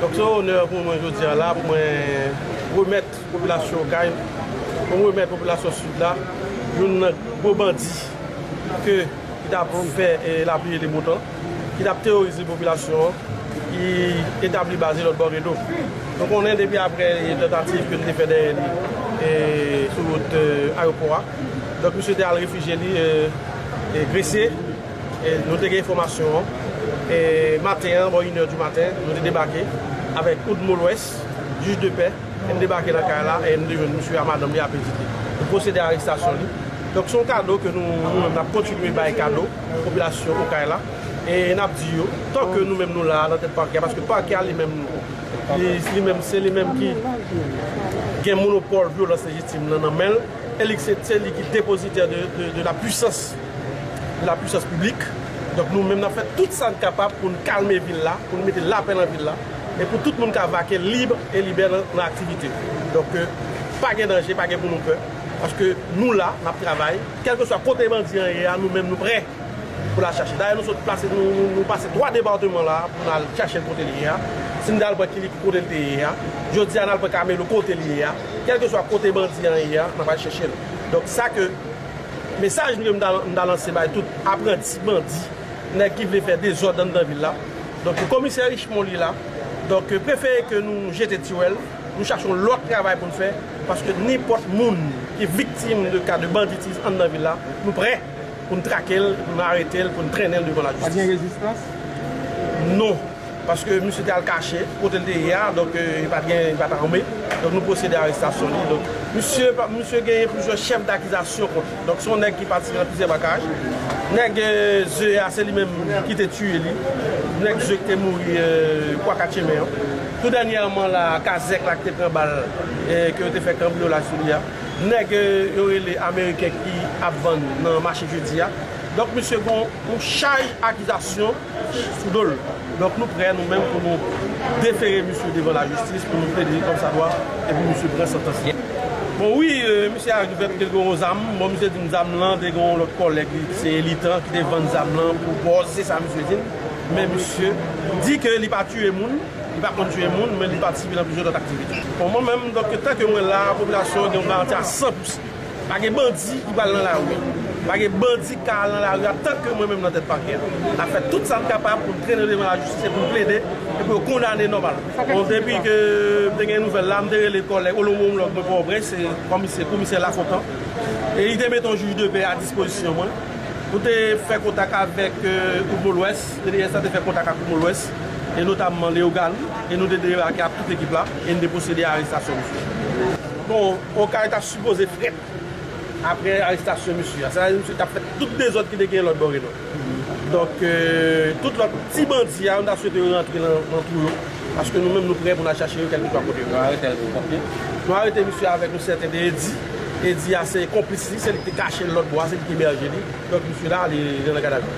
Donk se yon onè pou mwen jodi a la pou mwen remèt popilasyon Okay, pou mwen remèt popilasyon Sid la youn nan gwo bandi ke ki t ap fè la pluie et le beau temps, ki t ap teworize popilasyon an, ki etabli baz li lòtbò Redo. Nou konnen depi aprè tantativ ke nou te fè dèyè li sou wout ayopò a, donk misye te al refijye li Gresye. Nou te gen enfòmasyon an maten an bò inè di maten. Nou te debake avèk Oud Molwès, jij de pè. N debake nan kay la e n te jwenn misye a madanm li ape vide. Nou pwosede arestasyon li. Donk se yon kado ke nou menm n ap kontinye bay kado popilasyon Okay la e n ap di yo tan ke nou menm nou la a nan tèt pakè a paske pakè a li menm li menm se li menm ki gen monopòl vyolans lejitim lan nan men l e li se li ki depozitè de la pwisans lapuisans piblik. Donk nou menm n ap fè tout sa n kapab pou n kalme vil la, pou n mete lapè nan vil la e pou tout moun ka vake lib e libè nan aktivite yo. Donk pa gen danje, pa gen pou nou pè paske nou la, n ap travay. Kèlkeswa kote bandi an ye a, nou menm nou prè pou n al chache l. Dayè nou sot plase, nou pase 3 depateman la pou n al chache l kote l ye a. Si n te al pran Kilikou kote l te ye a, jodi a n al pran Kamelo kote l ye a. Kèlkeswa kote bandi an ye a, n ap al chèche l. Donk sa ke. Mesaj nou ke m ta lanse bay tout apranti bandi, nèg ki vle fè dezòd anndan vil la, donk komisè Richemond li la, donk prefere ke nou jete tiwèl, nou chache yon lòt travay pou n fè, paske nenpòt moun ki viktim de ka de banditism anndan vil la, nou prè pou n trake l, pou n arete l, pou n trennen l devan lajistis. Pa t gen rezistans? Non. Paske misye te al kache kote li te ye a, donk li pa t gen, li pa t ame, donk nou pwosede arestasyon li. Donk misye, misye genyen plizyè chèf dakizasyon kont li. Donk se yon nèg ki pati nan plizyè makaj. Nèg ze a se li menm ki te tiye li. Nèg ze ki te mouri kwa katyemen an. Tou dènyèman la a, kazèk la ki te pran bal ke yo te fè kanbriyolaj sou li a. Nèg yo rele ameriken ki ap vann nan mache jedi a. Donk misye gen yon chaj akizasyon. sou do l. Donk nou prè nou menm pou nou defere misye devan lajistis pou nou plede li kòm sa dwa e pou misye pran santans li. Bon wi, misye arive pou te gen yon zam, bon misye di m zam lan te gen yon lòt kòlèg li ki se Elitan ki te vann zam lan pou bòz, se sa misye di m. Men misye di ke li pa tiye moun, li pa konn tiye moun men li patisipe nan plizyè lòt aktivite. Bon mwen menm, donk tanke mwen la a, popilasyon an gen yon garanti a 100 pou 100. Pa gen bandi ki pral nan lari. Pa gen bandi ki ka al nan lari a tanke mwen menm nan tèt pakè a. N ap fè tout sa n kapab pou n trennen yo devan lajistis e pou n plede e pou yo kondane nòmal. Bon depi ke m te gen nouvèl la, m te rele kòlèg olomològ mwen Pòtoprens se kòmisè komisè Lafontan e li te mete yon jij de pè a dispozisyon mwen pou te fè kontak avèk Oudmo Lwès. Pnh la te fè kontak ak Oudmo Lwès e notamman Leogàn e nou te debake ak tout ekip la e n te pwosede a arestasyon misye. Bon, Okay ta. Sipoze fret apre arestasyon misye a. Sa vle di misye tap fè tout dezòd ki te genyen lòt bò Reno. Donk tout lòt ti bandi a nou ta swete yo rantre nan twou yo paske nou menm nou prè pou n al chache yo kèlkeswa kote yo. Nou arete l pou kòmye? Nou arete misye avèk yon sèten de Eddy. Eddy a se konplis li, se li ki te kache l lòt bò a, se li ki ebèje li. Donk misye la li nan gadavi.